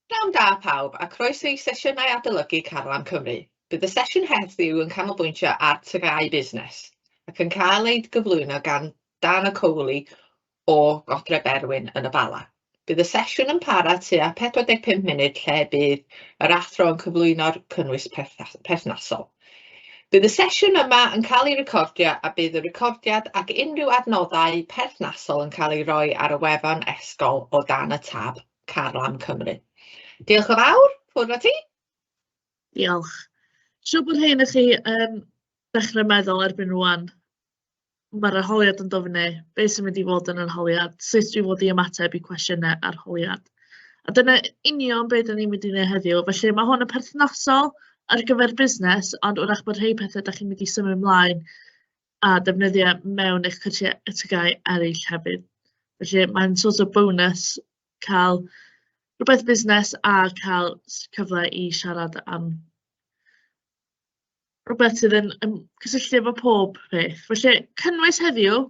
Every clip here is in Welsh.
Pnawn da pawb a croeso i sesiynau adolygu Carlam Cymru. Bydd y sesiwn heddiw yn canolbwyntio ar TGAU Busnes ac yn cael ei gyflwyno gan Dana Coley o Godre Berwyn yn y Bala. Bydd y sesiwn yn para tua 45 munud lle bydd yr athro yn cyflwyno'r cynnwys perthnasol. Bydd y sesiwn yma yn cael ei recordio a bydd y recordiad ac unrhyw adnoddau perthnasol yn cael ei roi ar y wefan esgol o dan y tab Carlam Cymru. Diolch yn fawr, ffwrdd a ti. Diolch. Siw bod hyn i chi yn dechrau meddwl erbyn rwan mae'r arholiad yn dod fyny, beth sy'n mynd i fod yn yr arholiad, sut dwi'n fod i ymateb i cwestiynau arholiad. A dyna union beth ni'n mynd i wneud heddiw. Felly mae hwn yn perthnasol ar gyfer busnes, ond wrach bod rhai pethau da chi'n mynd i symud ymlaen a defnyddio mewn eich cyrsiau y tygau eraill hefyd. Felly mae'n sort of bonus cael rhywbeth busnes a cael cyfle i siarad am rhywbeth sydd yn yn cysylltu efo pob peth. Felly, cynnwys heddiw,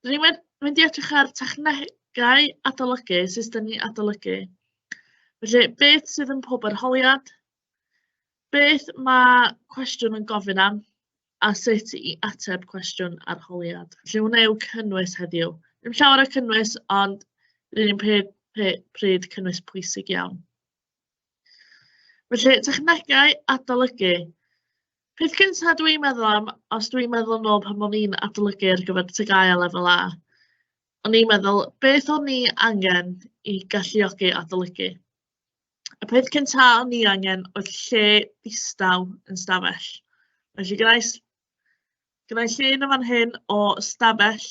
rydyn ni'n mynd i edrych ar technegau adolygu, system i adolygu. Felly, beth sydd yn pob arholiad, beth mae cwestiwn yn gofyn am, a sut i ateb cwestiwn arholiad. Felly, hwnna yw cynnwys heddiw. Ddim llawer o cynnwys, ond rydyn ni'n pryd cynnwys pwysig iawn. Felly, technegau adolygu. Peth cyntaf dw i'n meddwl am, os dw i'n meddwl yn ôl pan o'n i'n adolygu ar gyfer TGAU a Lefel A, o'n i'n meddwl, beth o'n i angen i galluogi adolygu? Y peth cyntaf o'n i angen oedd lle distaw yn stafell. Felly gynnau, gynnau lle yn y fan hyn o stafell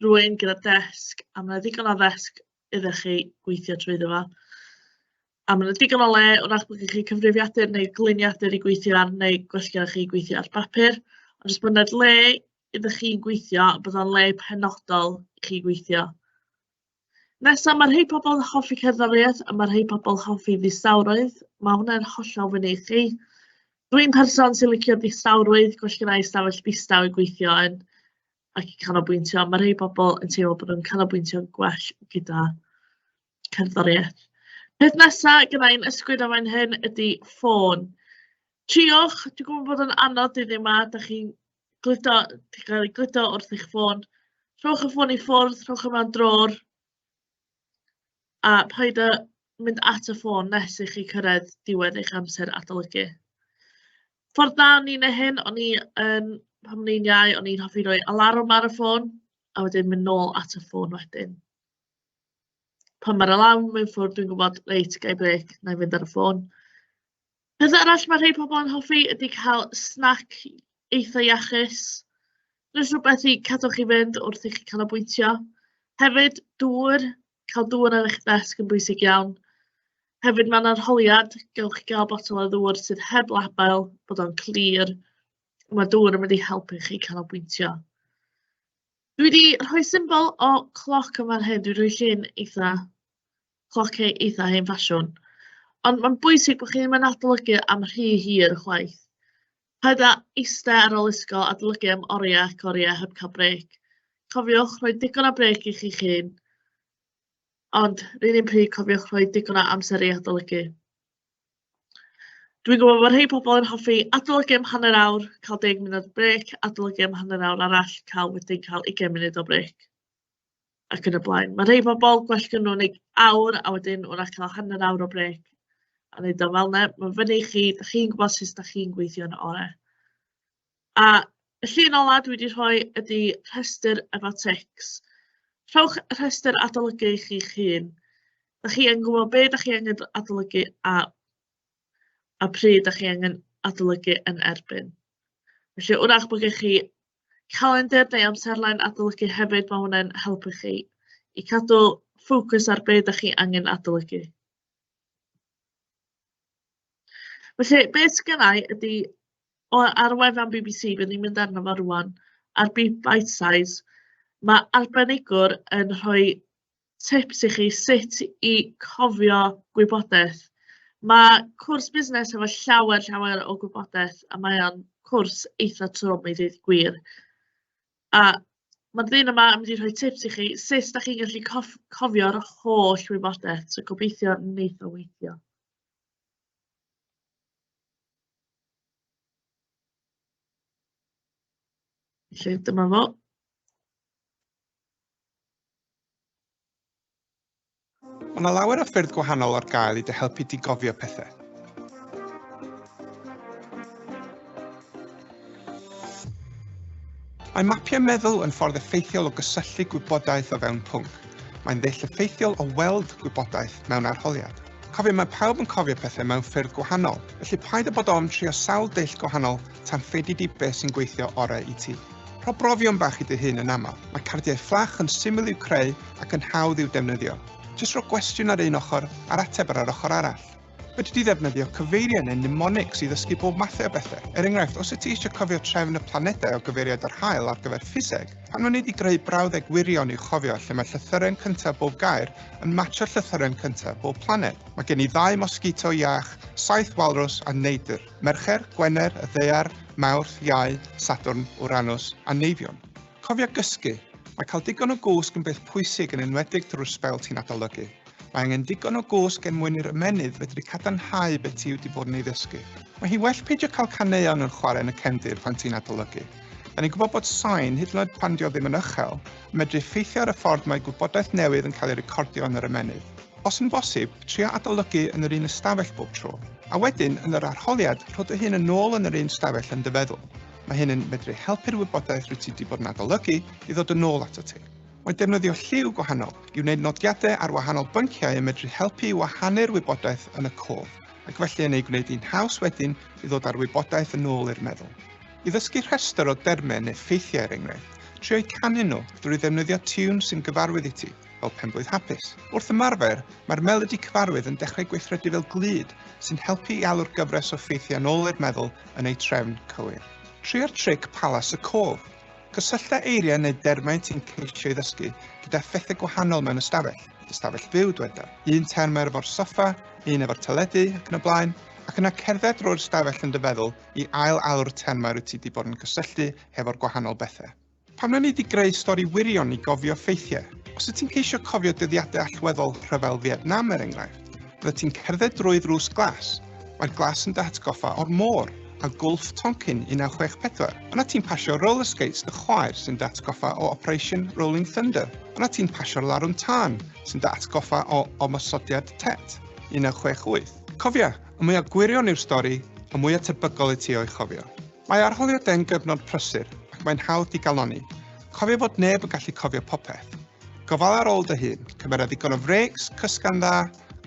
rhywun gyda desg, a ma' 'na ddigon o ddesg iddo chi gweithio trwyddo fo. A ma' 'na digon o le, wrach bo' gen chi cyfrifiadur neu gliniadur i gweithio ar, neu gwellgoch chi gweithio ar bapur. Ond jyst bod 'na le iddo chi gweithio, bod o'n le penodol i chi gweithio. Nesa, ma' rhei pobl yn hoffi cerddoriaeth a ma' rhei pobl yn hoffi ddistawrwydd. Ma' hwnna'n hollol fyny i chi. Dwi'n person sy'n licio distawrwydd, gwell genna i ystafell ddistaw i gweithio yn ac i canolbwyntio. Ma' rhei pobl yn teimlo bod nhw'n canolbwyntio'n gwell gyda cerddoriaeth. Peth nesa gyda i'n ysgwyd am ein hyn ydy ffôn. Triwch, dwi'n gwybod bod yn anodd dyddiau 'ma, dach chi'n gludo, chi'n cael ei gludo wrth eich ffôn. Rhowch y ffôn i ffwrdd, rhowch e mewn drôr, a paid â mynd at y ffôn nes i chi cyrraedd diwedd eich amser adolygu. Ffordd dda o'n i'n ei hyn, o'n i yn, pan o'n i'n iau, o'n i'n hoffi roi alarwm ar y ffôn, a wedyn mynd nôl at y ffôn wedyn. Pan mae'r alarwm yn ffwrdd, dwi'n gwybod, reit, gai brec, na i fynd ar y ffôn. Peth arall ma' rhei pobl yn hoffi ydy cael snac eitha' iachus, jyst rywbeth i cadw chi fynd wrth i chi canolbwyntio. Hefyd dŵr, cael dŵr ar eich desg yn bwysig iawn. Hefyd ma'n arholiad, gewch chi gael botel o ddŵr sydd heb label, bod o'n clir, a ma' dŵr yn mynd i helpu chi canolbwyntio. Dwi 'di rhoi symbol o cloc yn fan hyn, dwi'n rhoi llun eitha' Cloc e- eitha hen ffasiwn. Ond mae'n bwysig bod chi ddim yn adolygu am rhy hir chwaith. Paid â eistedd ar ôl ysgol a adolygu am oriau ac oriau heb cael brêc. Cofiwch rhoi digon o brêc i chi'ch hun, ond rydyn un pryd cofiwch rhoi digon o amser i adolygu. Dwi'n gwybod bod rhai pobl yn hoffi adolygu am hanner awr, cael 10 munud brêc, adolygu am hanner awr arall, cael wedyn cael 20 munud o brêc. ac yn y blaen. Ma' rhei pobl, gwell gyn nhw wneud awr, a wedyn wrach cael hanner awr o brêc a wneud o fel 'na. Mae'n fyny i chi, dach chi'n gwybod sut dach chi'n gweithio yn ore. A y llun ola dwi wedi rhoi ydy rhestr efo tics. Rhowch y rhestr adolygu i chi'ch hun. Dach chi yn gwybod be dach chi angen adolygu a, a pryd dach chi angen adolygu yn erbyn. Felly wrach bod gennych chi calendr neu amserlen adolygu hefyd, mae hwnna'n helpu chi i cadw ffocws ar beth ydych chi angen adolygu. Felly, beth sydd gennau ydy, o, ar wefan BBC, byddwn ni'n mynd arno fo rwan, ar Big Bite Size, mae arbenigwr yn rhoi tips i chi sut i cofio gwybodaeth. Mae cwrs busnes efo llawer, llawer o gwybodaeth a mae o'n cwrs eitha trwm i ddweud gwir. A mae'r ddyn yma yn mynd i rhoi tips i chi sut da chi'n gallu cof cofio'r holl wybodaeth, so gobeithio wneith o weithio. Felly dyma fo. Mae 'na lawer o ffyrdd gwahanol ar gael i dy helpu di gofio pethau. Mae mapiau meddwl yn ffordd effeithiol o gysylltu gwybodaeth o fewn pwnc. Mae'n ddull effeithiol o weld gwybodaeth mewn arholiad. Cofia mae pawb yn cofio pethau mewn ffyrdd gwahanol, felly paid â bod ofn trio sawl dull gwahanol tan ffeidi di beth sy'n gweithio orau i ti. Rho brofion bach i dy hun yn aml, mae cardiau fflach yn syml i'w creu ac yn hawdd i'w defnyddio. Jyst rho gwestiwn ar un ochr a'r ateb ar yr ochr arall. Fedri di ddefnyddio cyfeiriau neu mnemonics i ddysgu bob mathau o bethau. Er enghraifft, os wyt ti eisiau cofio trefn y planedau o gyfeiriad yr haul ar gyfer ffiseg, Pan o'n i 'di greu brawddeg wirion i'w chofio lle mae llythyren cyntaf bob gair yn matcho llythyren cyntaf bob planed. Mae gen i ddau mosgito iach, saith walrws a neidr, Mercher, Gwener, y Ddaear, Mawrth, Iau, Sadwrn, Uranus a Neifion. Cofia gysgu! Mae cael digon o gwsg yn beth pwysig yn enwedig drwy'r sbel ti'n adolygu. Mae angen digon o gwsg er mwyn i'r ymennydd fedru cadarnhau beth ti wedi bod yn ei ddysgu. Mae hi well peidio cael caneuon yn chwarae yn y cefndir pan ti'n adolygu. Da ni'n gwybod bod sain, hyd yn oed pan dio ddim yn ychel, yn medru effeithio ar y ffordd mae gwybodaeth newydd yn cael ei recordio yn yr ymennydd. Os yn bosib, tria adolygu yn yr un ystafell bob tro, a wedyn, yn yr arholiad, rho dy hun yn ôl yn yr un stafell yn dy feddwl. Mae hyn yn medru helpu'r wybodaeth rwyt ti wedi bod yn adolygu i ddod yn ôl atat ti. Mae defnyddio lliw gwahanol i wneud nodiadau ar wahanol bynciau yn medru helpu i wahanu'r wybodaeth yn y cof ac felly yn ei gwneud hi'n haws wedyn i ddod â'r wybodaeth yn ôl i'r meddwl. I ddysgu rhestr o dermau neu ffeithiau er enghraifft, trio eu canu nhw drwy ddefnyddio tiwn sy'n gyfarwydd i ti, fel Penblwydd Hapus. Wrth ymarfer, mae'r melodi cyfarwydd yn dechrau gweithredu fel glud sy'n helpu i alw'r gyfres o ffeithiau yn ôl i'r meddwl yn eu trefn cywir. Trio'r tric Palas y Cof. Cysyllta eiriau neu dermau ti'n ceisio ei ddysgu gyda phethau gwahanol mewn ystafell. Ystafell fyw, dyweda. Un term ar efo'r soffa, un efo'r teledu ac yn y blaen, ac yna cerdded drwy'r ystafell yn dy feddwl i ail alw'r termau rwy ti wedi bod yn cysylltu hefo'r gwahanol bethau. Pam na ni di greu stori wirion i gofio ffeithiau? Os wyt ti'n ceisio cofio dyddiadau allweddol rhyfel Fietnam er enghraifft, Byddet ti'n cerdded drwy ddrws glas. Mae'r glas yn dy hatgoffa o'r môr a Gwlff Tonkin 1964. Yna ti'n pasio roller skates dy chwaer sy'n dy atgoffa o Operation Rolling Thunder. Yna ti'n pasio'r larwm tân sy'n dy atgoffa o Ymosodiad Tet 1968. Cofia, y mwyaf gwirion yw'r stori, y mwyaf tebygol i ti o'i chofio. Mae arholiadau'n gyfnod prysur ac mae'n hawdd digalonni. Cofia fod neb yn gallu cofio popeth. Gofala ar ôl dy hun, cymera ddigon o frêcs, cysga'n dda,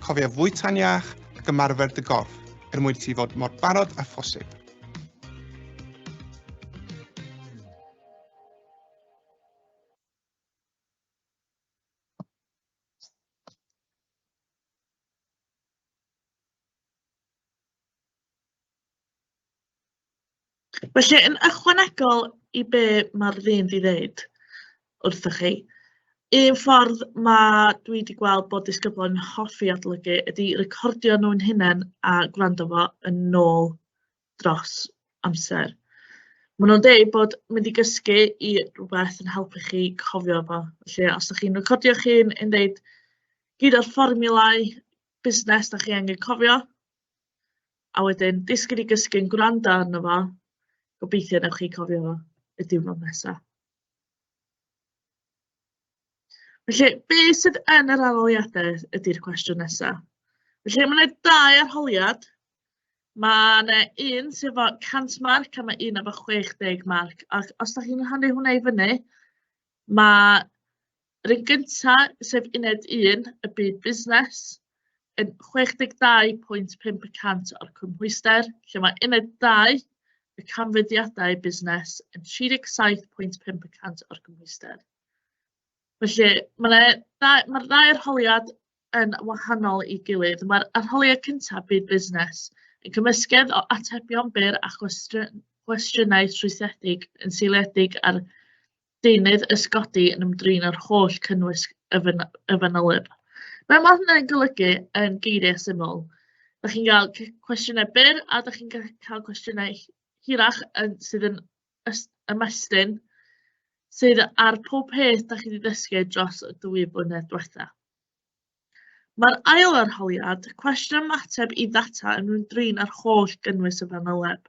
cofia fwyta'n iach ac ymarfer dy gorff er mwyn i ti fod mor barod â phosib. Felly, yn ychwanegol i be mae'r ddyn 'di ddeud wrthoch chi, un ffordd ma' dwi wedi gweld bod disgyblion yn hoffi adolygu ydy recordio nhw'n hunain a gwrando fo yn ôl dros amser. Maen nhw'n deud bod mynd i gysgu i rywbeth yn helpu chi cofio fo. Felly, os dach chi'n recordio'ch hun yn deud gyd o'r fformiwlau busnes dach chi angen cofio, a wedyn disgyn i gysgu'n gwrando arno fo. Gobeithio wnewch chi cofio y diwrnod nesaf. Felly, be sydd yn yr arholiadau ydy'r cwestiwn nesaf. Felly, mae yna dau arholiad. Mae yna un sydd efo 100 marc a mae un efo 60 marc. Ac os da chi'n rhannu hwnna i fyny, mae Yr un gyntaf, sef uned 1, y byd busnes, yn 62.5 y cant o'r cymhwyster, lle mae uned 2, y canfyddiadau busnes, yn 37.5 y cant o'r cymhwyster. Felly, mae'r mae ddau arholiad yn wahanol i gilydd. Mae'r arholiad cyntaf, byd busnes, yn cymysgedd o atebion byr a chwestiynau trwythedig yn seiliedig ar deunydd ysgodi yn ymdrin â'r holl cynnwys y, fyn y fanyleb. Be mae hynny'n golygu yn geiriau syml? Da chi'n cael cwestiynau byr a da chi'n cael cwestiynau hirach yn, sydd yn ymestyn sydd ar pob peth da chi wedi ddysgu dros y dwy blynedd diwetha. Mae'r ail arholiad, cwestiwn ymateb i ddata yn ymdrin â'r holl gynnwys y fanyleb.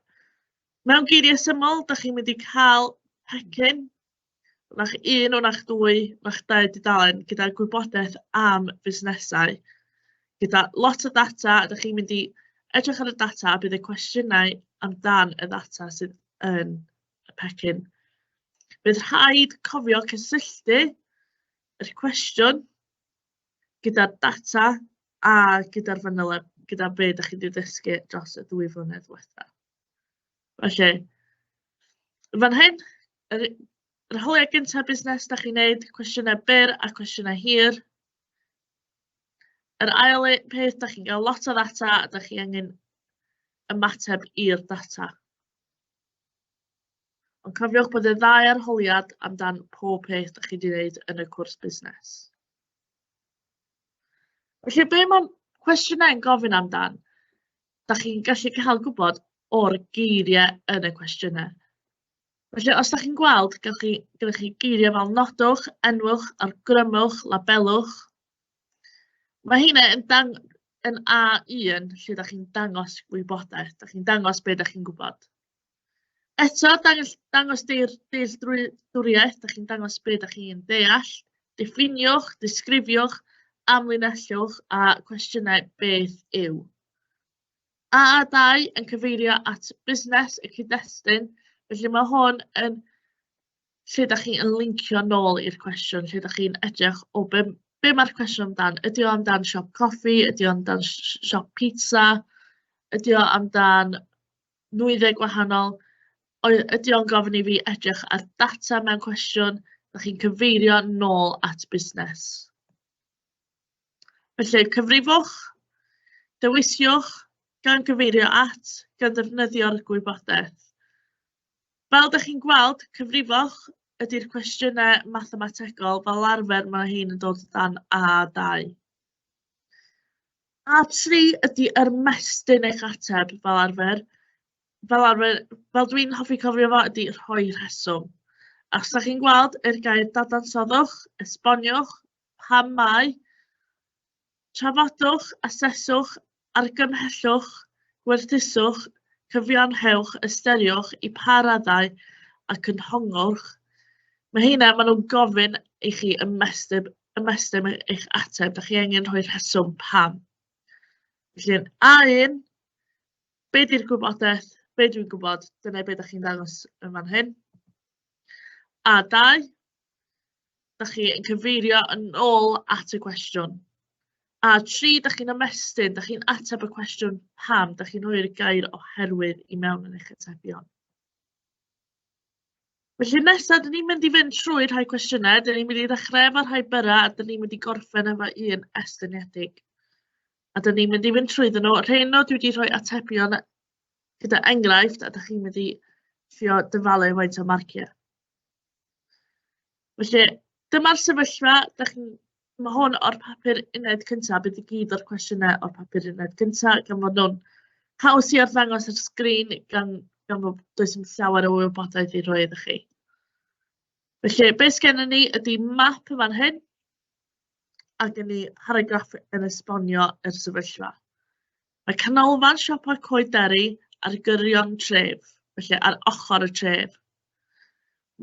Mewn geiriau syml, dych chi'n mynd i cael pecyn, o'na'ch un, o'na'ch dwy, o'na'ch dau dudalen gyda gwybodaeth am fusnesau, gyda lot o ddata, a dych chi'n mynd i edrych ar y data a bydd y cwestiynau amdan y ddata sydd yn y pecyn. Bydd rhaid cofio cysylltu yr cwestiwn gyda'r data a gyda'r fanyleb, gyda be ydych chi'n wedi dysgu dros y ddwy flynedd diwethaf. Felly, yn fan hyn, yr u- yr hawliau gynta busnes dach chi'n neud, cwestiynau byr a cwestiynau hir. Yr ail u- peth, dach chi'n gael lot o ddata a dach chi angen ymateb i'r data. Ond cofiwch bod y ddau arholiad amdan pob peth dach chi wedi wneud yn y cwrs busnes. Felly, be mae cwestiynau yn gofyn amdan? da chi'n gallu cael gwybod o'r geiriau yn y cwestiynau. Felly, os da chi'n gweld, gyda chi, gyda chi geiriau fel nodwch, enwch, argrymwch, labelwch, mae hynny yn, dang, yn A1 lle da chi'n dangos gwybodaeth, da chi'n dangos beth da chi'n gwybod. Eto, dangos, dangos deir, dealltwriaeth, da chi'n dangos beth da chi'n deall, diffiniwch, disgrifiwch, amlinellwch a cwestiynau beth yw. AA2 yn cyfeirio at busnes y cyd-destun, felly mae hwn yn lle da chi'n lincio nôl i'r cwestiwn, lle da chi'n edrych o be, be mae'r cwestiwn amdan. Ydy o amdan siop coffi, ydy o amdan siop pizza, ydy o amdan nwyddau gwahanol. Oedd, ydy o'n gofyn i fi edrych ar data mewn cwestiwn, da chi'n cyfeirio nôl at busnes. Felly, cyfrifwch, dewisiwch, gan gyfeirio at, gan ddefnyddio'r gwybodaeth. Fel da chi'n gweld, cyfrifwch ydy'r cwestiynau mathemategol, fel arfer mae hyn yn dod dan A2. A tri ydy ymestyn eich ateb fel arfer. Fel arfer, fel dwi'n hoffi cofio fo, ydy rhoi rheswm. A os da chi'n gweld yr gair dadansoddwch, esboniwch, pam mai, trafodwch, aseswch, argymhellwch, gwerthuswch, cyfiawnhewch, ystyriwch i pa raddau ac yn hongwrch. Mae heina, maen nhw'n gofyn i chi ymestyn ymestyn eich ateb, da chi angen rhoi rheswm pam. Felly, A1, be di'r gwybodaeth, be dwi'n gwybod, dyna be da chi'n dangos yn fan hyn. A2, da chi'n cyfeirio yn ôl at y cwestiwn. A tri, da chi'n ymestyn, da chi'n ateb y cwestiwn pam, da chi'n rhoi'r gair oherwydd i mewn yn eich atebion. Felly nesa, dyn ni'n mynd i fynd trwy rhai cwestiynau. Dyn ni'n mynd i ddechrau efo rhai byrra, a dyn ni'n mynd i gorffen efo un estyniedig. A dyn ni'n mynd i fynd trwyddyn nhw. Rhain nhw, dwi wedi rhoi atebion gyda enghraifft, a dych chi'n mynd i trio dyfalu faint o marciau. Felly, dyma'r sefyllfa, dych chi'n Mae hwn o'r papur uned cynta, bydd i gyd o'r cwestiynau o'r papur uned cynta, gan fod nhw'n haws i arddangos ar sgrin, gan gan fod does dim llawer o wybodaeth i roi iddo chi. Felly, be sgennyn ni ydy map y fan hyn, ac yn ni paragraff yn esbonio yr sefyllfa. Mae canolfan siopa Coed Derry ar gyrion tref, felly ar ochr y tref.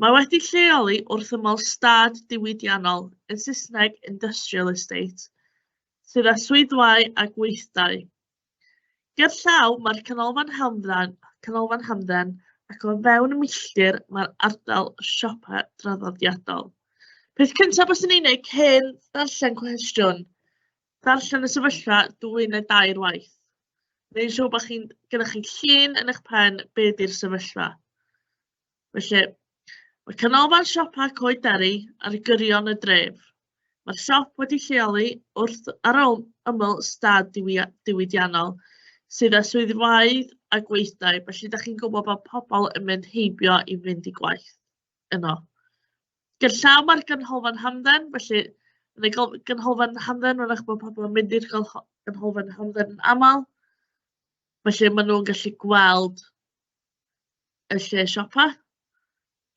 Mae wedi lleoli wrth ymyl stad diwydiannol, yn Saesneg Industrial Estate, sydd â swyddfau a gweithdai. Ger llaw mae'r canolfan hamdden, canolfan hamdden ac o fewn milltir mae'r ardal siopa draddodiadol. Peth cyntaf byswn i'n ei wneud cyn darllen cwestiwn Darllen y sefyllfa dwy neu dair waith. Neu'n siŵr bod chi'n gyda chi llun yn eich pen be di'r sefyllfa. Felly, mae canolfan siopa Coed Derry ar gyrion y dref. Mae'r siop wedi lleoli wrth ar ôl ymyl stad diwydiannol sydd â swyddfeydd a gweithdai, felly da chi'n gwybod bod pobl yn mynd heibio i fynd i gwaith yno. gerllaw mae'r ganolfan hamdden, felly yn y gol- ganolfan hamdden, mae'n eich bod pobl yn mynd i'r golho- ganolfan hamdden yn aml. Felly maen nhw'n gallu gweld y lle siopa.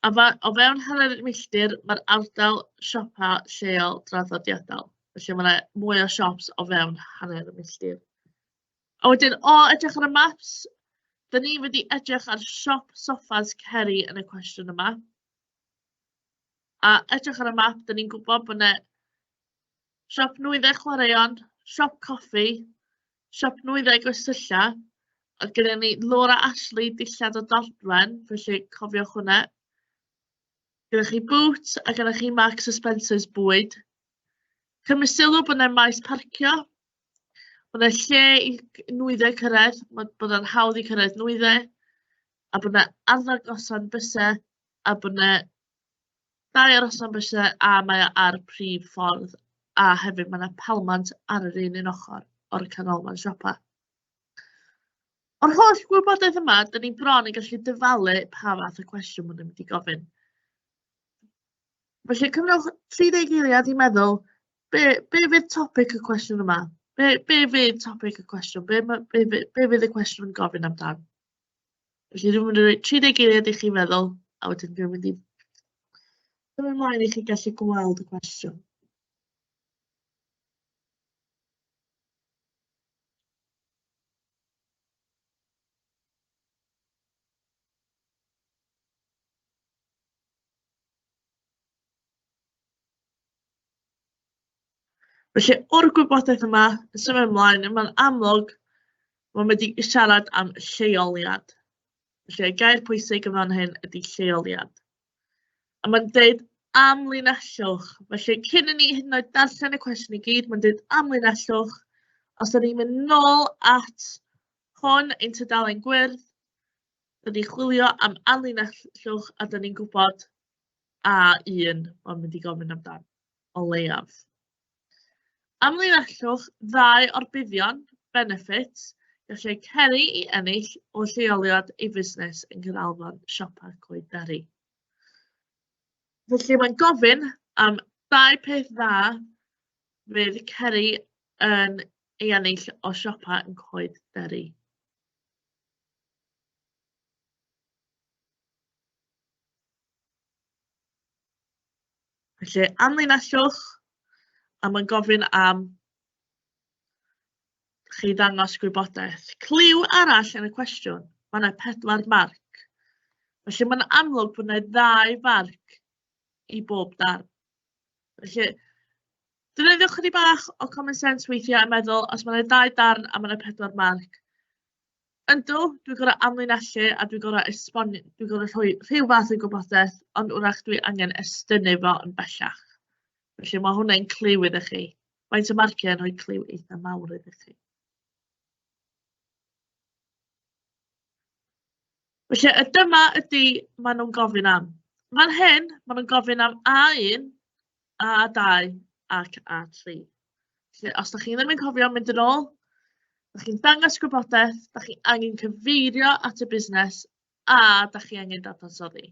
A fa- o fewn hanner milltir, mae'r ardal siopa lleol draddodiadol. Felly mae 'na mwy o siops o fewn hanner y milltir. A wedyn, o edrych ar y maps, 'dyn ni wedi edrych ar siop soffas Ceri yn y cwestiwn yma. A edrych ar y map, dan ni'n gwybod bod 'na siop nwyddau chwaraeon, siop coffi, siop nwyddau gwersylla, a gyda ni Laura Ashley, dillad o Dortwen, felly cofiwch hwnna. Gyda chi Boots a gyda chi Marks a Spencer's bwyd. Cymru sylw bod yna maes parcio, bod yna lle i nwyddau cyrraedd, bod yna'n hawdd i cyrraedd nwyddau, a bod yna arddangosau bysau a bod 'na dau arosfan byse a mae o ar prif ffordd a hefyd mae 'na palmant ar yr un un ochr o'r canolfan siopa. O'r holl gwybodaeth yma, dyn ni bron yn gallu dyfalu pa fath o cwestiwn maen nhw'n mynd i gofyn. Felly cyfnewch 30 eiliad i meddwl, be, be fydd topic y cwestiwn yma? Be, be fydd topic y cwestiwn? Be, be, be, be fydd y cwestiwn yn gofyn amdan? Felly dwi'n mynd i roi 30 eiliad i chi feddwl, a wedyn dwi'n mynd i symud ymlaen i chi gallu gweld y cwestiwn. Felly, o'r gwybodaeth yma, yn symud ymlaen, mae'n amlwg bod mae wedi siarad am lleoliad. Felly, y gair pwysig yn fan hyn ydy lleoliad. A mae'n dweud amlinellwch. Felly, cyn i ni hyd yn oed darllen y cwestiwn i gyd, mae'n dweud amlinellwch. Os ydym ni'n mynd nôl at hwn ein tudalen gwyrdd, dyn ni chwilio am amlinellwch a dyn ni'n gwybod A1 o'n mynd i gofyn amdan. o leiaf. Amlinellwch ddau o'r buddion, benefits, gall eu ceri i ennill o lleoliad ei fusnes yng Nghanolfan Siopa Coed Berry. Felly mae'n gofyn am dau peth dda fydd ceri yn ei ennill o siopa yn Coed Berry. Felly, anlinellwch, a mae'n gofyn am chi ddangos gwybodaeth. Clyw arall yn y cwestiwn, mae yna pedwar marc. Felly mae'n amlwg bod yna ddau farc i bob darn. Felly, dyna ddewch chi bach o common sense weithiau a meddwl, os mae'n yna ddau darn a mae'n yna pedwar marc, Yndw, dwi'n gorfod amlinellu a dwi'n gorfod esbon- dwi'n gorfod rhoi rhyw fath o gwybodaeth, ond wrach dwi angen estynnu fo yn bellach. Felly mae hwnna'n cliw iddo chi. Faint o marciau yn rhoi cliw eitha mawr iddo chi. Felly, y dyma ydy maen nhw'n gofyn am. Fan hyn, maen nhw'n gofyn am A1, A2 ac A3. Felly, os da chi ddim yn cofio mynd yn ôl, da chi'n dangos gwybodaeth, da chi angen cyfeirio at y busnes a da chi angen dadansoddi.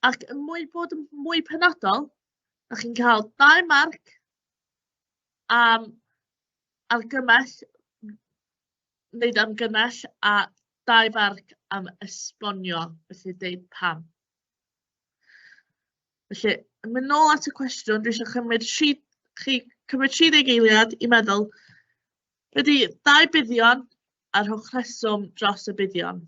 Ac yn mwy bod yn mwy penodol, da chi'n cael dau marc am argymell, wneud argymell a dau farc am esbonio, felly deud pam. Felly, yn mynd nôl at y cwestiwn, dwi eisiau chymryd tri, chi cymryd 30 eiliad i meddwl ydy dau buddion a rhowch rheswm dros y buddion.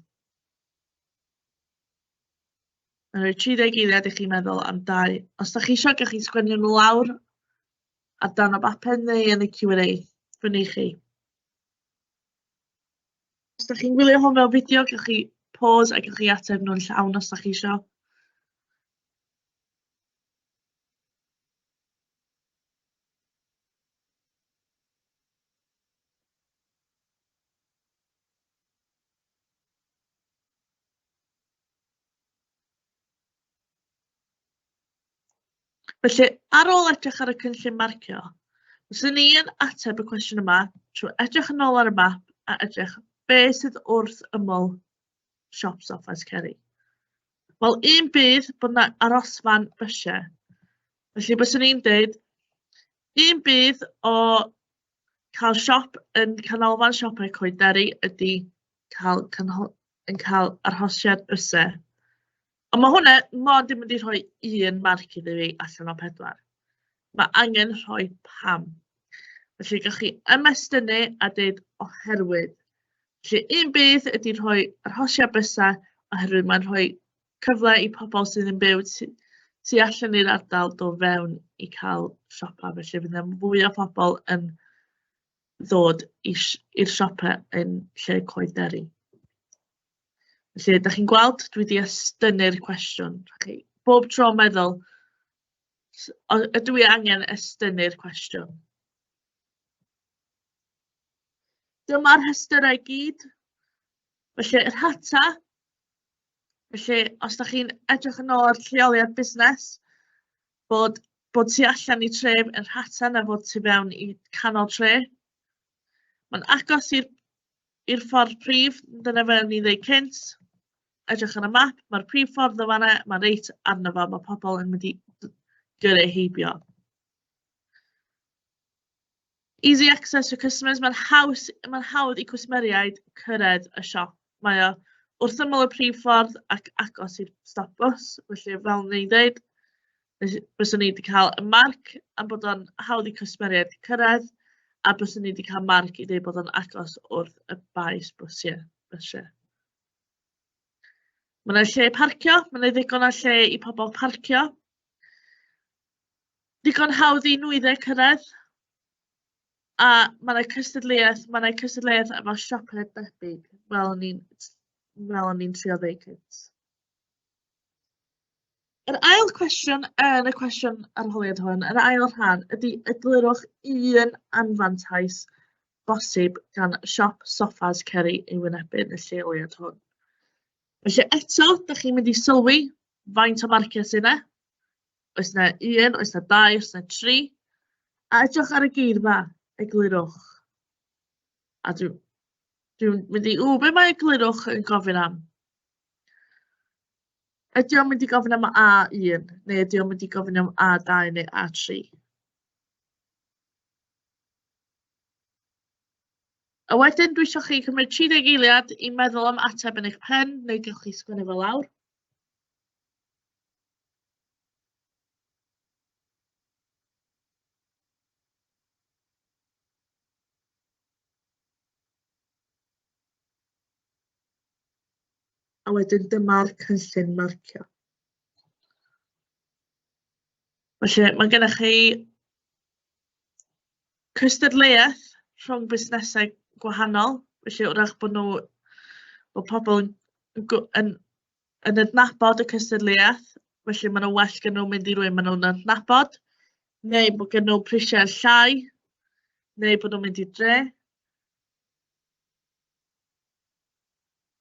Mae'n rhoi 30 eiliad i chi meddwl am dau. Os da chi eisiau, gallwch chi sgwennu nhw lawr ar dan o bapur neu yn y Q&A. Fyny chi. Os dach chi'n gwylio hwn fel fideo, gewch chi pause a gewch chi ateb nhw'n llawn os dach chi isio. Felly, ar ôl edrych ar y cynllun marcio, fyswn ni yn ateb y cwestiwn yma trwy edrych yn ôl ar y map a edrych be sydd wrth ymyl siop Soffes Ceri. Wel, un bydd bod yna arosfan bysiau. Felly, byswn ni'n dweud, un bydd o cael siop yn canolfan siopau coederi ydy cael yn cael arhosiad bysau. Ond mae hwnna mond yn mynd i rhoi un marc iddi fi allan o pedwar. Mae angen rhoi pam. Felly, gallwch chi ymestynnu a dweud oherwydd. Felly, un bydd ydy rhoi arhosiad bysau oherwydd mae'n rhoi cyfle i pobl sydd yn byw tu allan i'r ardal do fewn i cael siopa. Felly, fydd yna fwy o pobl yn ddod i'r siopa yn lle coederi. Felly, da chi'n gweld, dwi wedi estynnu'r cwestiwn. Chi, bob tro meddwl, ydw i angen estynnu'r cwestiwn? Dyma'r rhestyrau gyd. Felly, yr hata. Felly, os da chi'n edrych yn ôl ar lleoliad busnes, bod, bod tu allan i tref yn rhata na fod tu fewn i canol tre. Mae'n agos i'r i'r ffordd prif, dyna fel o'n i'n ddeud cynt, edrych ar y map, mae'r prif ffordd o fanna, mae'n reit arno fo, mae pobl yn mynd i gyrru heibio. Easy access for customers, mae'n haws, mae'n hawdd i cwsmeriaid cyrraedd y siop. Mae o wrth ymyl y prif ffordd ac agos i'r stop bws, felly fel o'n i'n dweud, Fys- Fyswn i 'di cael y marc am bod o'n hawdd i cwsmeriaid cyrraedd, a byswn i 'di cael marc i ddeud bod o'n agos wrth y baes bysiau, bysiau. Mae yna lle parcio, mae yna ddigon o lle i pobl parcio. Digon hawdd i nwyddau cyrraedd, a mae yna cystadleuaeth, mae yna cystadleuaeth efo siopau debyg, fel o'n i'n fel o'n i'n trio ddeud cynt. Yr ail cwestiwn yn y cwestiwn arholiad hwn, yr ail rhan, ydy eglurwch un anfantais bosib gan siop soffas Ceri ei wynebyn y lleoliad hwn. Felly eto, da chi'n mynd i sylwi faint o marciau sy'n yna. Oes yna un, oes yna dau, oes yna tri. A edrych ar y geirfa, eglurwch. A dwi'n dwi mynd i, ww, be mae eglurwch yn gofyn am? Ydy o'n mynd i gofyn am A1, neu ydy o'n mynd i gofyn am A2 neu A3? A wedyn dwi isio chi cymryd 30 eiliad i meddwl am ateb yn eich pen, neu gewch chi sgwennu fo lawr. A wedyn dyma'r cynllun marcio. Felly, mae gennych chi cystadleuaeth rhwng busnesau gwahanol, felly wrach bod nhw, bod pobl yn, yn, yn adnabod y cystadleuaeth, felly maen nhw well gen nhw mynd i rwy'n maen nhw'n adnabod, neu bod gen nhw prisiau llai, neu bod nhw'n mynd i dre.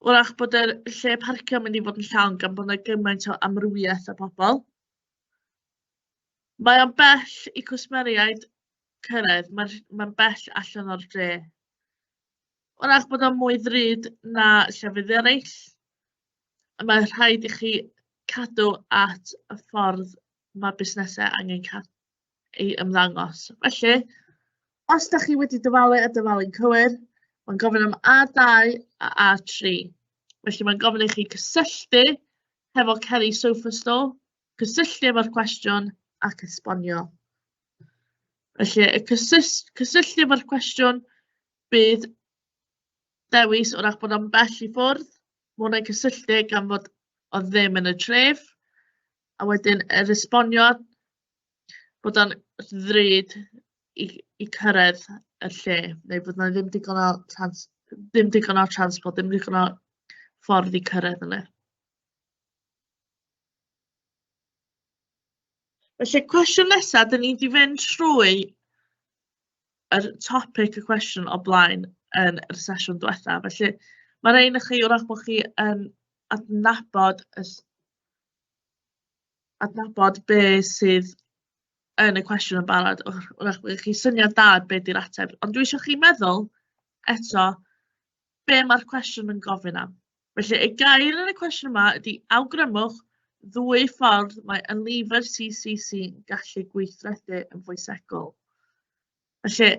wrach bod yr lle parcio mynd i fod yn llawn gan bod yna gymaint o amrywiaeth o bobl. Mae o'n bell i cwsmeriaid cyrraedd, mae'n mae bell allan o'r dre. Wrach bod o'n mwy ddrud na llefydd eraill, a mae rhaid i chi cadw at y ffordd mae busnesau angen i ymddangos. Felly, os da chi wedi dyfalu a dyfalu'n cywir, mae'n gofyn am A2 a A3. Felly mae'n gofyn i chi cysylltu hefo Kelly Sofa Store, cysylltu efo'r cwestiwn ac esbonio. Felly, y cysylltu cysylltu efo'r cwestiwn bydd dewis o'r bod o'n bell i ffwrdd, mae hwnna'n cysylltu gan fod o ddim yn y tref, a wedyn yr esboniad bod o'n ddrud i i cyrraedd y lle, neu bod 'na ddim digon o trans- ddim digon o transport, ddim digon o ffordd i cyrraedd yna. Felly cwestiwn nesa, 'dyn ni 'di fynd trwy yr topic y cwestiwn o blaen yn y sesiwn diwetha, felly ma' raid i chi wrach bod chi yn adnabod y adnabod be sydd yn y cwestiwn yn barod. Wr- Wrach bydd chi syniad da be 'di'r ateb. Ond dwi isio chi meddwl eto be mae'r cwestiwn yn gofyn am. Felly, y gair yn y cwestiwn yma ydy awgrymwch ddwy ffordd mae ynlifr CCC yn gallu gweithredu yn fwysegol. Felly,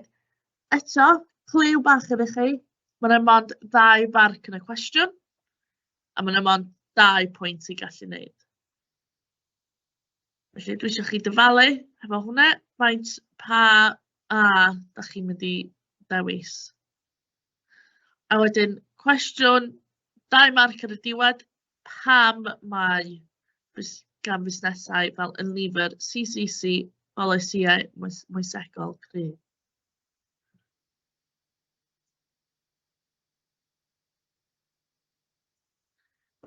eto, clyw bach gyda chi. Mae'n yna mond ddau barc yn y cwestiwn. A ma' 'na mond dau pwynt ti'n gallu neud. Felly dwi isio chi dyfalu hefo hwnna, faint pa A dach chi'n mynd i ddewis? A wedyn cwestiwn dau marc ar y diwedd, pam mae bus- gan fusnesau fel Unilever, CCC, polisïau moes- moesegol cryf?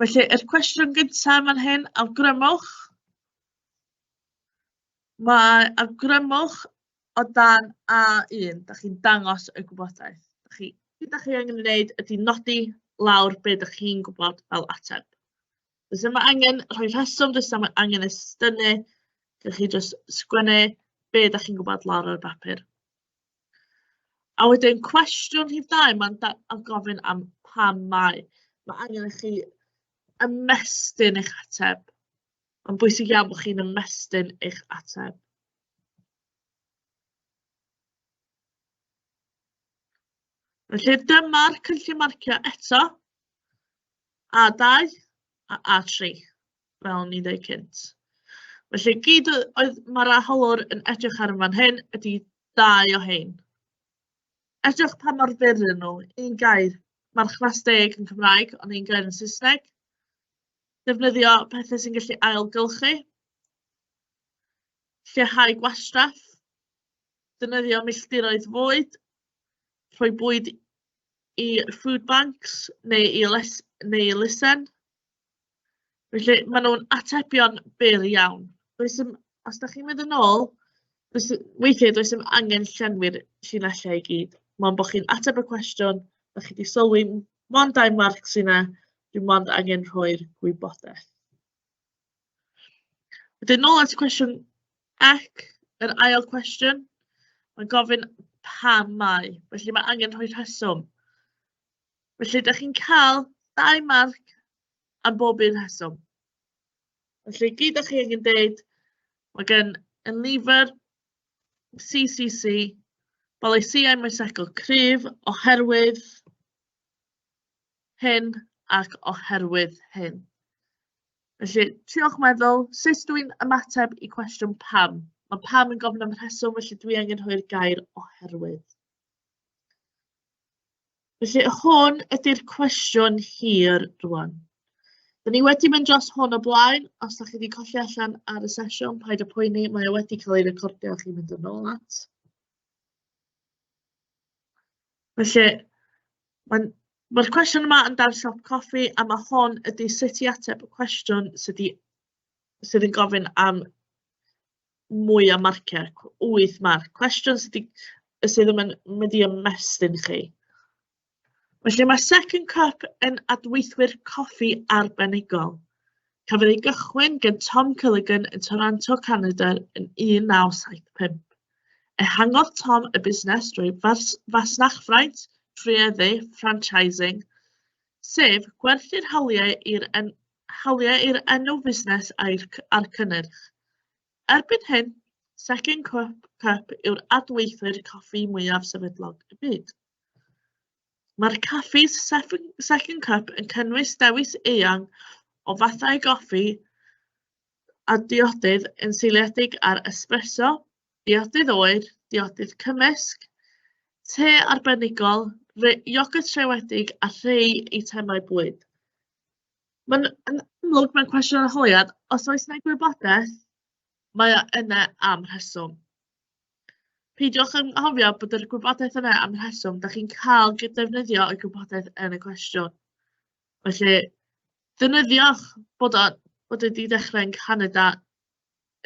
Felly, yr cwestiwn gyntaf yn fan hyn, awgrymwch. Mae awgrymwch o dan A1, da chi'n dangos y gwybodaeth. Da chi, beth da chi angen ei wneud ydy nodi lawr be da chi'n gwybod fel ateb. Does yma angen rhoi rheswm, does yma angen estynu. Gewch chi jyst sgwennu be da chi'n gwybod lawr ar y bapur. A wedyn cwestiwn rhif dau, mae'n da- yn gofyn am pam mae. Mae angen i chi ymestyn eich ateb. Mae'n bwysig iawn bod chi'n ymestyn eich ateb. Felly dyma'r cynllun marcio eto. A2 a A3. fel o'n i'n dweud cynt. Felly, gyd y- oedd mae'r arholwr yn edrych ar yn fan hyn ydy dau o hein. Edrych pa mor fyr ydyn nhw. Un gair, marchfas deg yn Cymraeg, ond un gair yn Saesneg. Defnyddio pethau sy'n gallu ailgylchu. Lleihau gwastraff. Defnyddio milltiroedd fwyd. Rhoi bwyd i food banks neu i, les, neu i lisen. Felly, maen nhw'n atebion byr iawn. Does dim... os dach chi'n mynd yn ôl, does... weithiau does dim angen llenwi'r llinellau i gyd. Mond bod chi'n ateb y cwestiwn, dach chi 'di sylwi m- mond dau marc sy 'na, dwi mond angen rhoi'r gwybodaeth. Wedyn nôl at cwestiwn ac yr ail cwestiwn, mae'n gofyn pam mae, felly mae angen rhoi rheswm. Felly, da chi'n cael dau marc am bob un rheswm. Felly, gyd o'ch chi angen deud, mae gen Enlifer, CCC, bolisiau moesegol cryf oherwydd hyn ac oherwydd hyn. Felly, tiwch meddwl, sut dwi'n ymateb i cwestiwn pam? Mae pam yn gofyn am rheswm, felly dwi angen rhoi'r gair oherwydd. Felly, hwn ydy'r cwestiwn hir rwan. Dyn ni wedi mynd dros hwn o blaen, os da chi wedi colli allan ar y sesiwn, paid y poeni, mae o wedi cael ei recordio chi'n mynd yn ôl at. Felly, mae'n Mae'r cwestiwn yma yn dar siop coffi a mae hon ydy sut i ateb y cwestiwn sydd, di, sydd yn gofyn am mwy o marciau, cw- wyth marc. Cwestiwn sy 'di yy sydd yn myn- mynd i ymestyn chi. Felly mae Second Cup yn adweithwyr coffi arbenigol. Cafodd ei gychwyn gan Tom Culligan yn Toronto, Canada yn 1975. Ehangodd Tom y busnes drwy fas- fasnachfraint, trwyeddu, franchising, sef gwerthu'r hawliau i'r en- hawliau i'r enw fusnes a'r cynnyrch. Erbyn hyn, Second Cup, Cup yw'r adweithwyr coffi mwyaf sefydlog y byd. Mae'r caffis Second Cup yn cynnwys dewis eang o fathau goffi a diodydd yn seiliedig ar espresso, diodydd oer, diodydd cymysg, te arbenigol, iogyrt rhewedig a rhai eitemau bwyd. Mae'n yn amlwg mae'n cwestiwn arholiad. Os oes 'na gwybodaeth, mae o yna am rheswm. Peidiwch yn anghofio bod yr gwybodaeth yna am rheswm. Dach chi'n cael gy- defnyddio y gwybodaeth yn y cwestiwn. Felly, defnyddiwch bod o bod e 'di dechrau yn Canada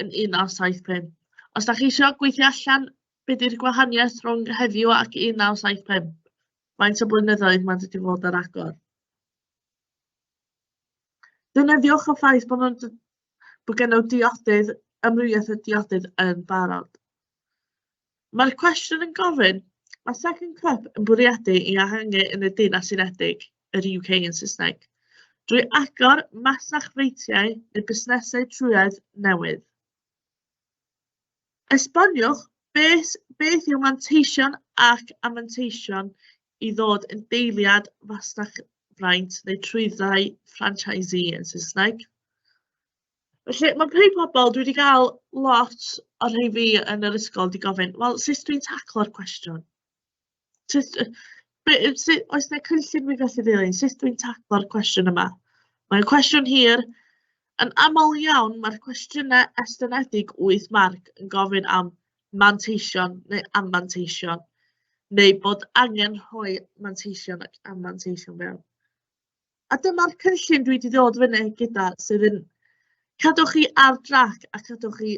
yn 1975. Os dach chi isio gweithio allan be' 'di'r gwahaniaeth rhwng heddiw ac 1975, faint o blynyddoedd ma'n dod i fod ar agor? Defnyddiwch y ffaith bod nhw'n d- bod gennym diodydd, amrywiaeth o diodydd yn barod. Mae'r cwestiwn yn gofyn, mae Second Cup yn bwriadu i ehangu yn y Deyrnas Unedig, yr UK yn Saesneg, drwy agor masnach freitiau neu busnesau trwyedd newydd. Esboniwch beth, beth yw manteision ac amanteision i ddod yn deiliad fasnach fraint neu trwyddau franchisee yn Saesneg. Felly, mae rhai pobl, dwi wedi cael lot o'r rhai fi yn yr ysgol wedi gofyn, wel, sut dwi'n taclo'r cwestiwn? Jyst yy be- yy sut... oes 'na cynllun fi'n gallu dilyn? Sut dwi'n taclo'r cwestiwn yma? Mae'n cwestiwn hir. Yn aml iawn, mae'r cwestiynau estynedig wyth marc yn gofyn am manteision neu anfanteision, neu bod angen rhoi manteision ac anfanteision mewn. A dyma'r cynllun dwi wedi dod fyny gyda sydd yn cadw chi ar drac a cadw chi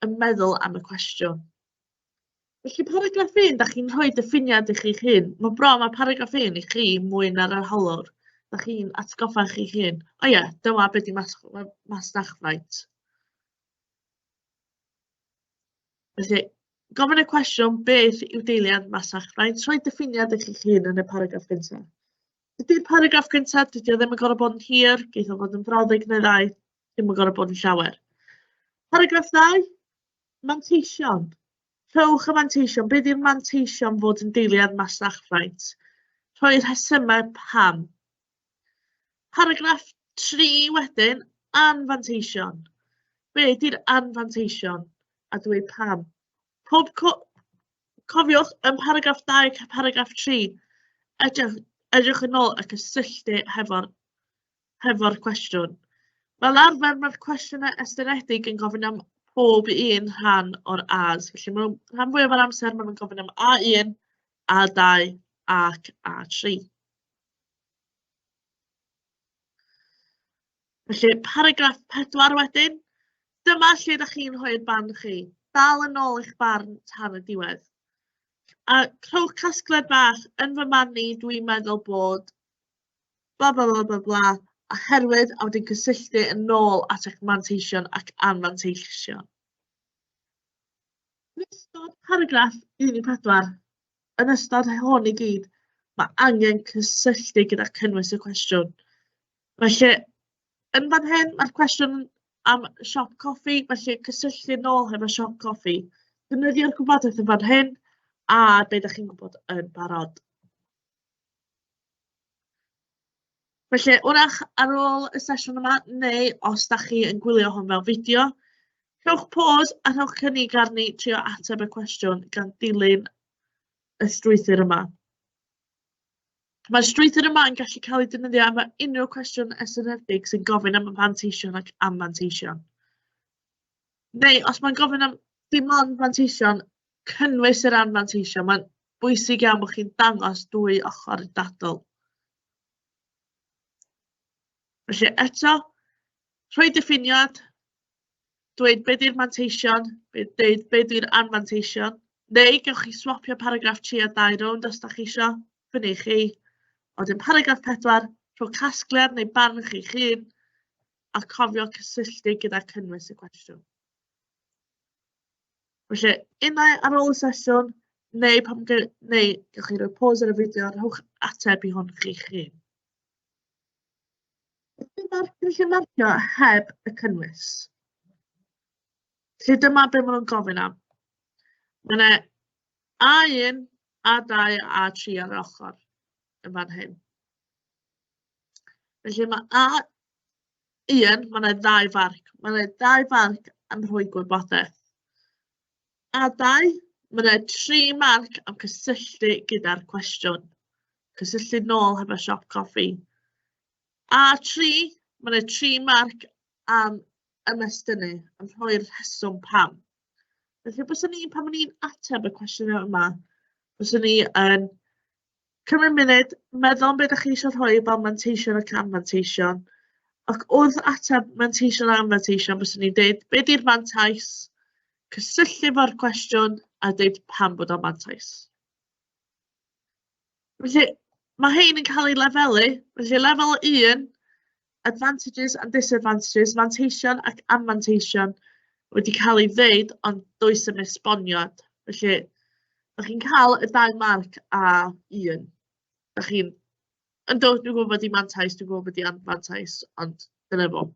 yn meddwl am y cwestiwn. Felly paragraff un, dach chi'n rhoi diffiniad i chi'ch hun. Mae bron â paragraff un i chi mwy na'r arholwr. Dach chi'n atgoffa chi'ch hun. O ie, dyma beth i mas masnachfraint. Felly, gofyn y cwestiwn beth yw deiliad masnachfraint, rhoi diffiniad i chi'ch hun yn y paragraff gyntaf. Ydy'r paragraff gyntaf, dydy o ddim yn gorfod bod yn hir, geith o fod yn frawddeg neu ddau, ddim yn gorfod bod yn llawer. Paragraff ddau, Manteision. Rhowch y manteision. Bydd i'r manteision fod yn deiliad masnachfraint. Rhoi'r rhesymau pam. Paragraff 3 wedyn, anfanteision. Be ydy'r anfanteision? A dweud pam. Pob co cofiwch yn paragraff 2 ac paragraff 3, edrych, edrych yn ôl ac ysylltu hefo'r hefo'r cwestiwn. Fel arfer, mae'r cwestiynau estynedig yn gofyn am pob un rhan o'r A's. Felly, mae rhan fwyaf o'r amser maen nhw'n gofyn am A1, A2 ac A3. Felly, paragraff 4 wedyn. Dyma lle ydych chi'n rhoi'r barn chi. Dal yn ôl eich barn tan y diwedd. A crowch casgled bach, yn fy marn i, dwi'n meddwl bod bla bla bla bla bla a herwydd a wedyn cysylltu yn ôl at eich manteision ac anfanteision. Yn ystod paragraff 14, yn ystod hon i gyd, mae angen cysylltu gyda cynnwys y cwestiwn. Felly, yn fan hyn, mae'r cwestiwn am siop coffi, felly cysylltu nôl hefo siop coffi. Dynyddio'r gwybodaeth yn fan hyn, a beth ydych chi'n gwybod yn barod. Felly, wrach ar ôl y sesiwn yma, neu os da chi yn gwylio hwn fel fideo, rhowch pôs a rhowch cynnig arni trio ateb y cwestiwn gan dilyn y strwythur yma. Mae'r strwythur yma yn gallu cael ei defnyddio am unrhyw cwestiwn estynedig sy'n gofyn am y manteision ac am manteision. Neu os mae'n gofyn am dim ond manteision, cynnwys yr anfanteision. Mae'n bwysig iawn bod chi'n dangos dwy ochr y dadl. Felly eto, rhoi diffiniad, dweud beth yw'r manteision, dweud beth yw'r anfanteision, neu gewch chi swapio paragraff 3 a 2 rownd os da chi eisiau, fyny chi. Oedden paragraff 4, rhoi casgliad neu barn chi'ch hun, a cofio cysylltu gyda cynnwys y cwestiwn. Felly, unai ar ôl y sesiwn, neu pan ge- neu gewch chi roi pause ar y fideo, rhowch ateb i hwn chi'ch hun. Felly mae'r cynllun marcio heb y cynnwys. Felly dyma be maen nhw'n gofyn am. Mae yna A1, A2 a A3 ar yr ochr yn fan hyn. Felly mae A un, mae yna ddau farc. Mae yna ddau farc am rhoi gwybodaeth. A dau, mae yna tri marc am cysylltu gyda'r cwestiwn. Cysylltu nôl hefo siop coffi. A tri, mae yna tri marc am ymestynnu, am rhoi'r rheswm pam. Felly, bys ni, pan o'n i'n ateb y cwestiynau yma, bys ni yn Cymryd munud, meddwl am be dach chi eisiau rhoi fel manteision ac anfanteision. Ac wrth ateb manteision a anfanteision, bys ni'n dweud, be di'r mantais? Cysylltu fo'r cwestiwn a dweud pam bod o'n mantais. Felly, mae hein yn cael ei lefelu. Felly, lefel 1, advantages and disadvantages, manteision ac anfanteision wedi cael ei ddeud, ond does yn esboniad. Felly, ydych chi'n cael y dau marc a un. Ydych chi'n... Yn dod, dwi'n gwybod bod i'n mantais, dwi'n gwybod bod i'n anfantais, ond dyna fo.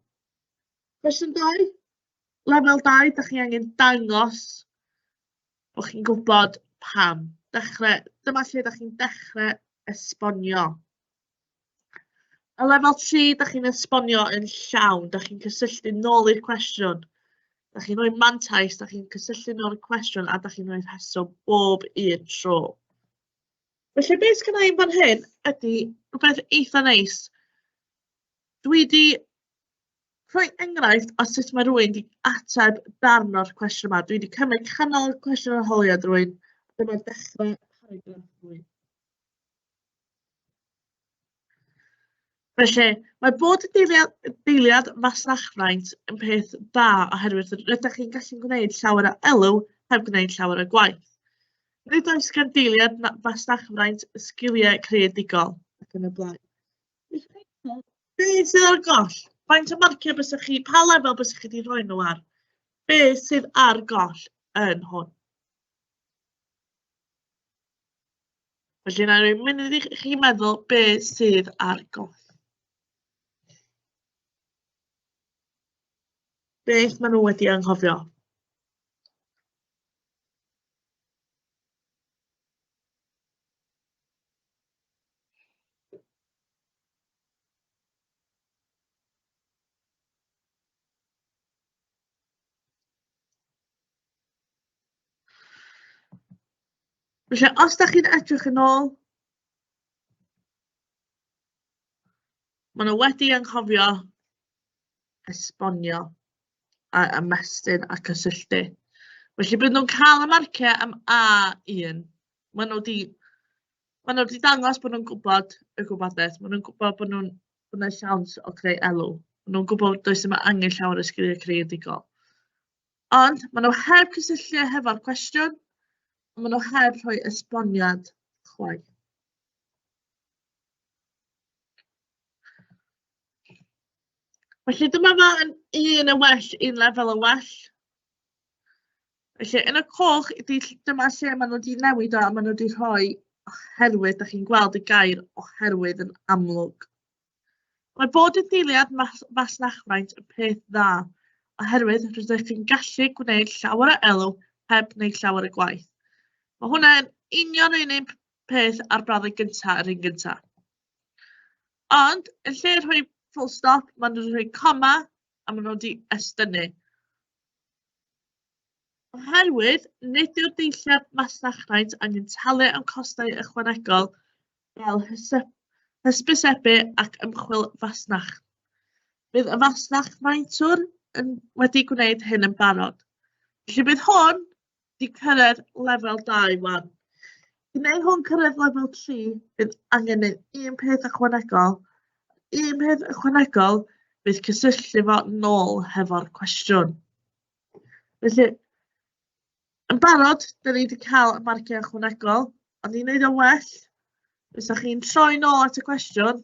Cwestiwn 2. Lefel 2, ydych chi angen dangos bod chi'n gwybod pam. Dechrau, dyma lle ydych chi'n dechrau esbonio. Y lefel tri, da chi'n esbonio yn llawn, da chi'n cysylltu nôl i'r cwestiwn. Da chi'n rhoi mantais, da chi'n cysylltu nôl i'r cwestiwn a da chi'n rhoi rheswm bob un tro. Felly beth sydd gennau i'n fan hyn ydy rhywbeth eitha neis. Dwi wedi rhoi enghraifft o sut mae rhywun wedi ateb darn o'r cwestiwn yma. Dwi wedi cymryd canol cwestiwn arholiad rhywun, dyma'r dechrau paragraff rhywun. Felly, mae bod yn deiliad, deiliad fasnachfraint yn peth da oherwydd rydych chi'n gallu gwneud llawer o elw heb gwneud llawer o gwaith. Nid oes gan deiliad fasnachfraint sgiliau creadigol ac yn y blaen. Be sydd ar goll? Faint o marciau bysych chi, pa lefel bysych chi wedi rhoi nhw ar? Be sydd ar goll yn hwn? Felly, na i mynd i chi meddwl be sydd ar goll. Beth maen nhw wedi anghofio? Felly, os dach chi'n edrych yn ôl, maen nhw wedi anghofio esbonio a ymestyn a cysylltu. Felly, bydd nhw'n cael y marciau am A1. Maen nhw wedi maen nhw wedi dangos bod nhw'n gwybod y gwybodaeth. Maen nhw'n gwybod bod nhw'n bod nhw'n siawns o creu elw. Maen nhw'n gwybod does yma angen llawer o sgiliau creadigol. Ond maen nhw heb cysylltu e hefo'r cwestiwn, a maen nhw heb rhoi esboniad chwaith. Felly dyma fo yn un yn well, un lefel yn well. Felly yn y coch, dyma lle maen nhw wedi newid o a maen nhw wedi rhoi oherwydd, da chi'n gweld y gair oherwydd yn amlwg. Mae bod yn deiliad mas masnachfraint yn peth dda, oherwydd rydych chi'n gallu gwneud llawer o elw heb wneud llawer o gwaith. Mae hwnna'n union yr un peth ar bradde gyntaf yr un gyntaf. Ond, yn lle rhoi full stop, maen nhw'n rhoi coma a maen nhw wedi estynnu. Oherwydd, nid yw'r deilliad masnachfraint angen talu am costau ychwanegol fel hyse- hysbysebu ac ymchwil fasnach. Bydd y fasnach faentwr yn wedi gwneud hyn yn barod. Felly bydd hwn wedi cyrraedd lefel 2 wan. I wneud hwn cyrraedd lefel 3, bydd angen neud un peth ychwanegol. Un peth ychwanegol bydd cysylltu fo nôl hefo'r cwestiwn. Felly, Yn barod, dan ni 'di cael y marciau ychwanegol, ond i wneud o'n well, fysa chi'n troi nôl at y cwestiwn,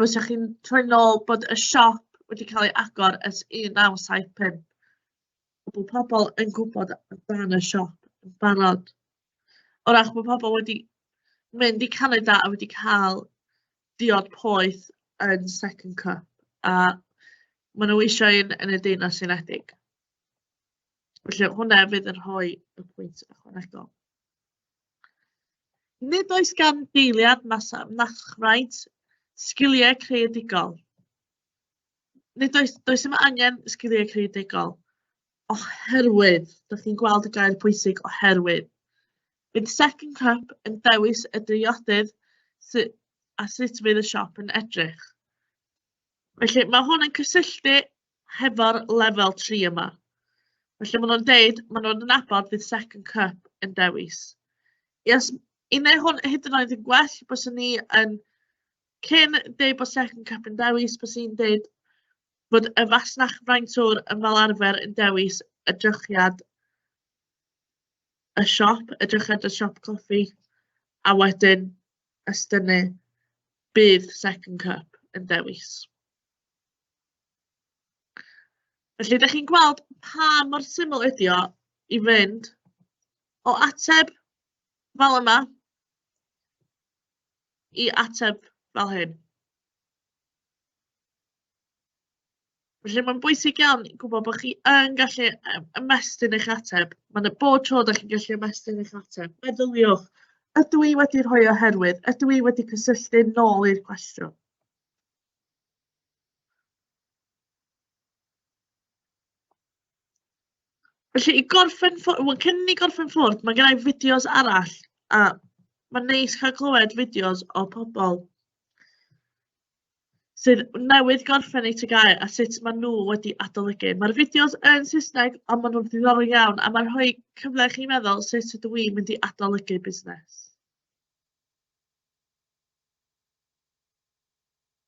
fysa chi'n troi nôl bod y siop wedi cael ei agor ers 1975. A bod pobl yn gwybod amdan y siop yn barod. O ach bod pobl wedi mynd i Canada a wedi cael diod poeth yn Second Cup. A maen nhw eisiau un yn y Deyrnas Unedig. Felly, hwnna fydd yn rhoi y pwynt ychwanegol. Nid oes gan deiliad masnachfraint sgiliau creadigol. Nid oes, does yma angen sgiliau creadigol oherwydd, dych chi'n gweld y gair pwysig oherwydd. Bydd Second Cup yn dewis y driodydd sy- a sut fydd y siop yn edrych. Felly, mae hwn yn cysylltu hefo'r lefel tri yma. Felly maen nhw'n deud, maen nhw'n nabod fydd second cup yn dewis. Yes, i neu hwn hyd yn oed yn gwell, bys ni yn cyn deud bod second cup yn dewis, bys ni'n deud bod y fasnach fraintwr yn fel arfer yn dewis y drychiad y siop, y drychiad y siop coffi, a wedyn ystynnu bydd second cup yn dewis. Felly, dach chi'n gweld pa mor syml ydi o i fynd o ateb fel yma i ateb fel hyn. Felly, mae'n bwysig iawn gwybod bod chi yn gallu ymestyn eich ateb. Mae'n bod tro da chi'n gallu ymestyn eich ateb. Meddyliwch, ydw i wedi rhoi oherwydd? Ydw i wedi cysylltu nôl i'r cwestiwn? Felly, i gorffen ffo- wel, cyn i ni gorffen ffwrdd, mae gynna i fideos arall, a mae'n neis cael clywed fideos o pobl sydd newydd gorffen eu TGAU a sut maen nhw wedi adolygu. Mae'r fideos yn Saesneg, ond maen nhw'n ddiddorol iawn, a mae'n rhoi cyfle i chi meddwl sut ydw i'n mynd i adolygu busnes.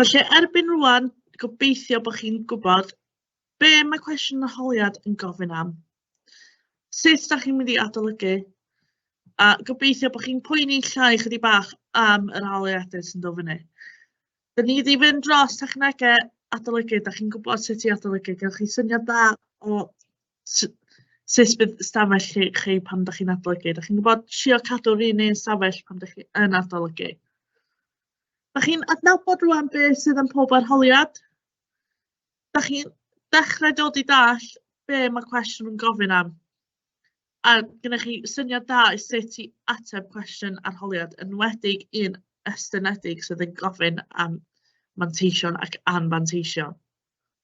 Felly, erbyn rwan, gobeithio bod chi'n gwybod be mae cwestiwn y holiad yn gofyn am, sut da chi'n mynd i adolygu, a gobeithio bod chi'n poeni llai chydig bach am yr holiadau sy'n dod fyny. Dyn ni wedi fynd dros technegau adolygu, da chi'n gwybod sut i adolygu, gewch chi syniad da o s- sut bydd ystafell chi, chi pan ydych chi'n adolygu. Ydych chi'n gwybod trio cadw'r un un ystafell pan ydych chi yn adolygu. Ydych chi'n adnabod rwan beth sydd yn pob arholiad? Ydych chi'n dechrau dod i dall be mae cwestiwn yn gofyn am? A gennych chi syniad da i sut i ateb cwestiwn arholiad, yn wedig un ystynedig sydd yn gofyn am manteision ac anfanteision.